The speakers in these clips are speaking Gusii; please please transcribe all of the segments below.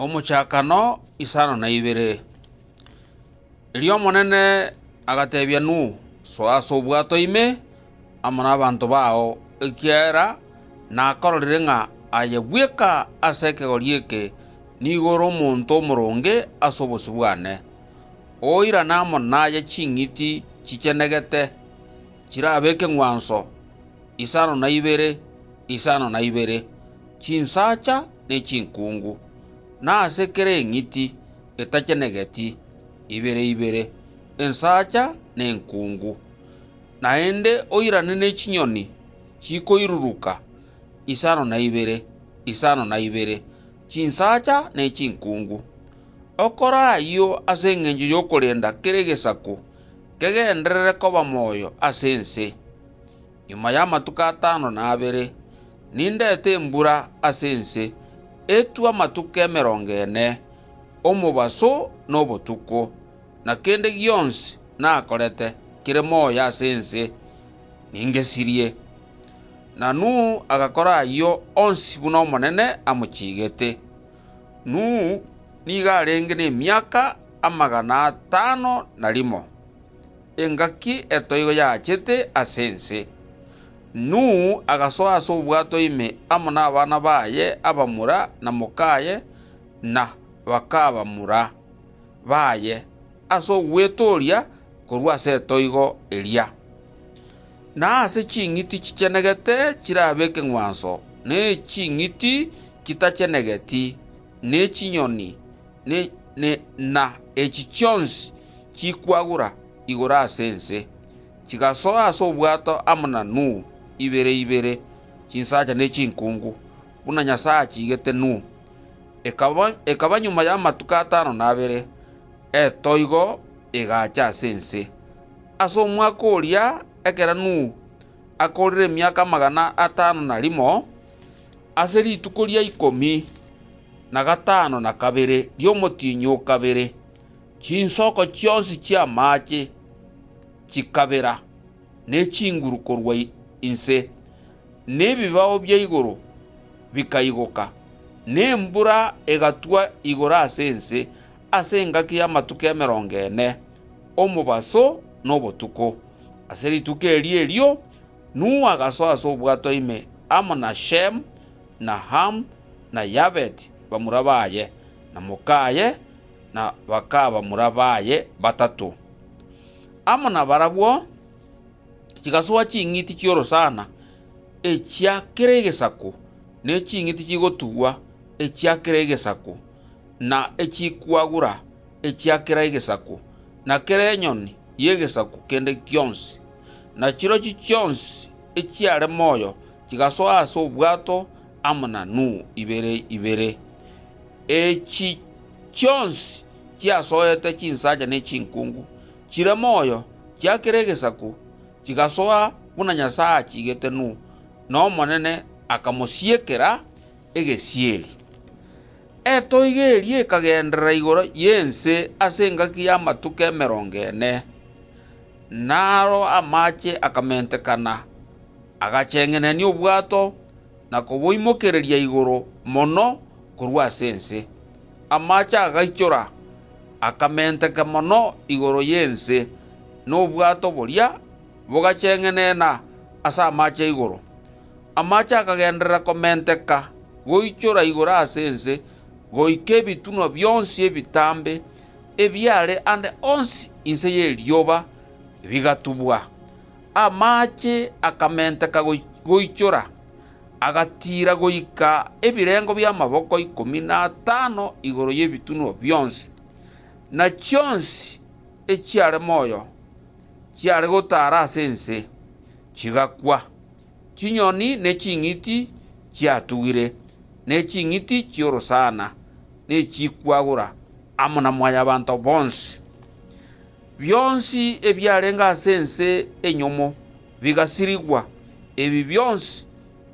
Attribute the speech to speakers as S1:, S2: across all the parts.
S1: Omochakano isano na ibere. Erio Omonene agatebia Nuhu, Soa ase obwato ime amo nabanto bao, ekiagera nakororire ng'a aye bweka ase ekegori eke nigo ore omonto omoronge ase obosio bwane, oirane amo naye ching'iti chichenegete, chirabe ekeng'wanso isano na ibere isano na ibere, chinsacha ne chinkungu, na ase kera eng'iti etachenegeti, ibere ibere, ensacha ne enkungu. Naende oirane ne chinyoni chikoiruruka isano na ibere, isano na ibere, chinsacha ne chinkungu. Okore ayio ase engencho y'okorenda kera egesaku kegenderere koba moyo ase ense. Nyuma y'amatuko atano na abere, nindeete embura ase ense, etwe amatuko emerongo ene, omobaso na obotuko, na kende gionsi nakorete kere moyo ase ense ningesirie. Na Nuhu agakora ayio onsi buna Omonene amochiigete. Nuhu nigo arenge nemiaka amagana atano na rimo. engaki etoigo yaachete ase ense. Nuhu agasoa ase obwato ime amo nabana baye abamura na mokaye na bakabamura baye ase ogwetooria korwa ase etoigo eria. Na ase ching'iti chichenegete chirabe ekeng'wanso, ne ching'iti chitachenegeti, ne chinyoni, ne, ne, na echi chionsi chikwagura igoro ase ense, chigasoa ase obwato amo na Nuhu, ibere ibere, chinsacha ne chinkungu, buna Nyasae achiigete Nuhu. Ekaba, ekaba nyuma y'amatuko atano na abere, etoigo egaacha ase ense. Ase omwaka oria ekero Nuhu akoorire emiaka amagana atano na rimo, Ase rituko ria ikomi na gatano na kabere ri'omotienyi o kabere, chinsoko chionsi chi'amaache chikabera, ne chinguru korwa inse, na ebibao bia igoro bikaigoka, na embura egatwa igoro ase ense ase engaki y'amatuko emerongo ene, omobaso na obotuko. Ase rituko erio erio Nuhu agasoa ase obwato ime amo na Shemu, na Hamu, na Yafeti, bamura baye, na mokaye, na bakabamura baye batato. Amo nabarabwo chigasoa ching'iti chi'orosana echia kera egesaku, ne ching'iti chigotugwa echia kera egesaku, na echikwagura echia kera egesaku, na kera enyoni y'egesaku kende gionsi. na chirochio chionsi echiare moyo chigasoa ase obwato amo na Nuhu ibere ibere. Echi chionsi chiasoete chinsacha ne chinkungu, chire moyo, chiakera egesaku, chigasoa buna Nyasae achiigete Nuhu, na Omonene akamosiekera egesieri. Etoigo eria ekagenderera igoro y'ense ase engaki y'amatuko emerongo ene. Naro amache akamentekana, agacheng'enania obwato, na koboimokereria igoro mono korwa ase ense. Amache agaichora, akamenteka mono igoro y'ense, na obwato boria bogacheng'enena ase amache igoro. Amache akagenderera komenteka goichora igoro ase ense, goika ebitunwa bionsi ebitambe. ebiaare ande onsi inse y'erioba bigatubwa. Amaache akamenteka goichora, agatiira goika ebirengo bi'amaboko ikomi natano igoro y'ebitunwa bionsi, na chionsi echiare moyo chiare gotaara ase ense chigakwa. Chinyoni ne ching'iti chiatugire, ne ching'iti chi'orosana. ne chikwagura amo na mwanyabanto bonsi. Bionsi ebiarenge ase ense enyomo bigasirigwa, ebi bionsi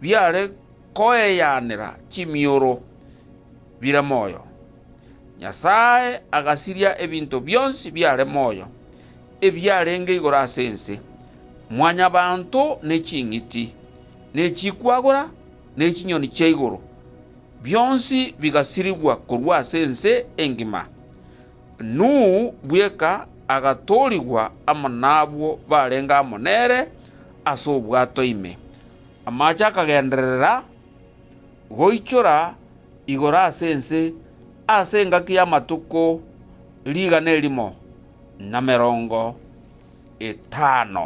S1: biare koeyanera chimioro bire moyo. Nyasae agasiria ebinto bionsi biare moyo, ebiarenge igoro ase ense, mwanyabanto ne ching'iti, ne chikwagura, ne chinyoni chia igoro. Bionsi bigasirigwa korwa ase ense engima. Nuhu bweka agatoorigwa amo n'abwo barenge amo nere ase obwato ime. Amache akagenderera goichora igoro ase ense ase engaki y'amatuko rigana erimo na merongo etano.